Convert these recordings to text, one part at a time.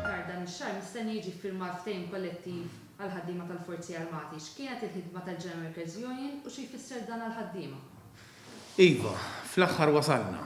Aktar dan ix-xahar mistenni jiġi ffirmat ftehim kollettiv għall-ħaddiema tal-Forzi Armati. X'kienet il-ħidma tal-General Workers Union u xi jfisser dan għall-ħaddiema? Iva, fl-aħħar wasalna.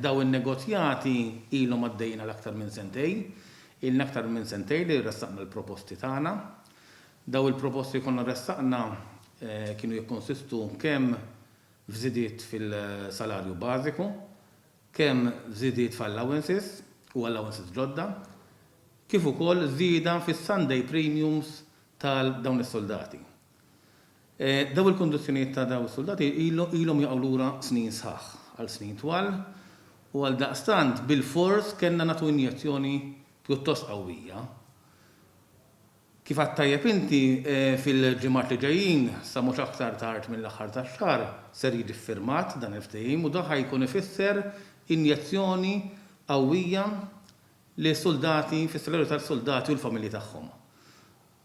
Dawn in-negozjati ilhom għaddejjin għal aktar minn sentejn. Ilna aktar minn sentejn li ressaqna l-proposti tagħna. Dawn il-proposti li konna ressaqna kienu jikkonsistu kemm f'żidiet fil-salarju bażiku, kemm f'żidiet f'allowances u allowances ġodda, kif ukoll żieda fis-Sunday premiums ta' dawn is-suldati. Dawn il-kundizzjonijiet ta' dawn is-suldati ilhom jaqgħu lura snin sħaħ, għal snin twal, u għaldaqstant bilfors kellna nagħtu injezzjoni pjuttost qawwija. Kif għedt tajjeb inti, fil-ġimgħat li ġejjin, sa mhux aktar tard mill-aħħar tax-xahar, ser jiġi ffirmat dan il-ftehim u dan ħa jkun ifisser injezzjoni qawwija lis-suldati, fis-solidarjetà tas-suldati u l-familji tagħhom.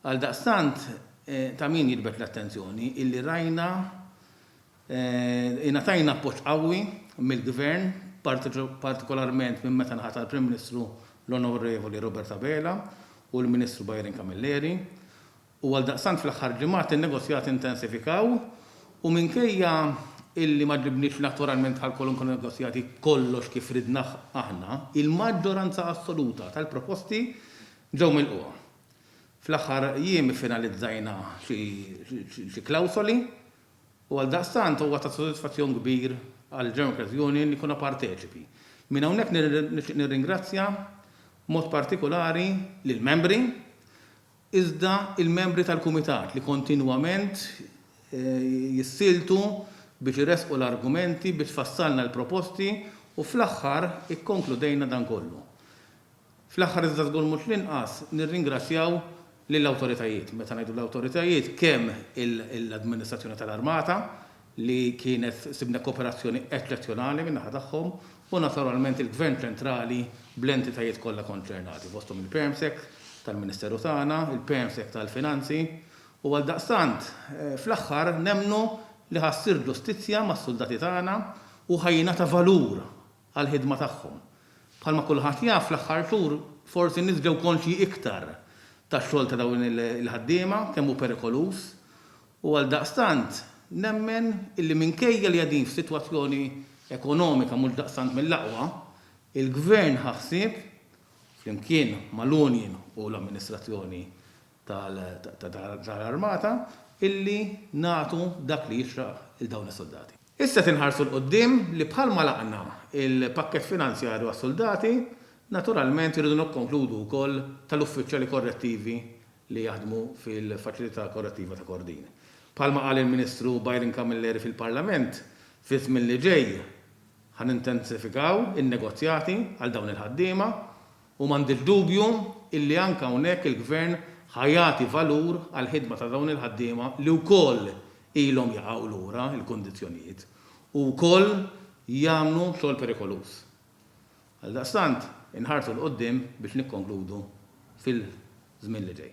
Għaldaqstant, ta' min jiġbed l-attenzjoni illi rajna, Ingħatajna appoġġ qawwi mill-Gvern, partikolarment minn meta nħatar Prim Ministru l-Onorevoli Robert Abela u l-Ministru Byron Camilleri, u għaldaqstant fl-aħħar ġimgħat in-negozjati intensifikaw u minkejja illi ma ġibniex naturalment għal kwalunkwe negozjati kollox kif ridna aħna, il-maġġoranza assoluta tal-proposti ġew milqugħa. Fl-aħħar jiem iffinalizzajna xi klawsoli. U għaldaqstant huwa ta' sodisfazzjon kbir għall-Democrats Union li konna parteċipi. Minn hawnhekk nixtieq nirringrazzja b'mod partikulari lill-membri, iżda l-membri tal-Kumitat li kontinwament jissieltu biex iressqu l-argumenti, biex fassalna l-proposti u fl-aħħar ikkonkludejna dan kollu. Fl-aħħar iżda żgur mhux l-inqas, nirringrazzjaw lill-awtoritajiet, meta ngħidu l-awtoritajiet, kemm l-Amministrazzjoni tal-Armata li kienet sibna kooperazzjoni eċċezzjonali min-naħa tagħhom u naturalment il-Gvern Ċentrali bl-entitajiet kollha konċernati, fosthom il-Permsec tal-Ministeru tagħna, il-Permsec tal-Finanzi, u għaldaqstant, fl-aħħar nemmnu li ħa ssir ġustizzja mas-suldati tagħna u ħa jingħata valur għall-ħidma tagħhom. Bħalma kulħadd jaf, fl-aħħar xhur forsi n-nies ġew konxji iktar tax-xogħol ta' dawn il-ħaddiema, kemm hu perikoluż, u għaldaqstant nemmen illi minkejja li qegħdin f'sitwazzjoni ekonomika mhux daqstant mill-aqwa, il-Gvern ħa ħsieb, flimkien mal-union u l-amministrazzjoni tal-Armata illi nagħtu dak li jixraq lil dawn is-suldati. Issa se nħarsu 'l quddiem li bħalma għlaqna l-pakkett finanzjarju għas-suldati, naturalment irridu nikkonkludu wkoll tal-uffiċjali korrettivi li jaħdmu fil-Faċilità Korrettiva ta' Kordin. Bħalma qal il-Ministru Byron Camilleri fil-Parlament, fiż-żmien li ġej ħa nintensifikaw in-negozjati għal dawn il-ħaddiema. U m'għandi dubju illi anke hawnhekk il-Gvern ħa jagħti valur għall-ħidma ta' dawn il-ħaddiema li wkoll ilhom jaqgħu lura l-kundizzjonijiet u wkoll jagħmlu xogħol perikoluż. Għaldaqstant, inħarsu 'l quddiem biex nikkonkludu fil-żmien li ġej.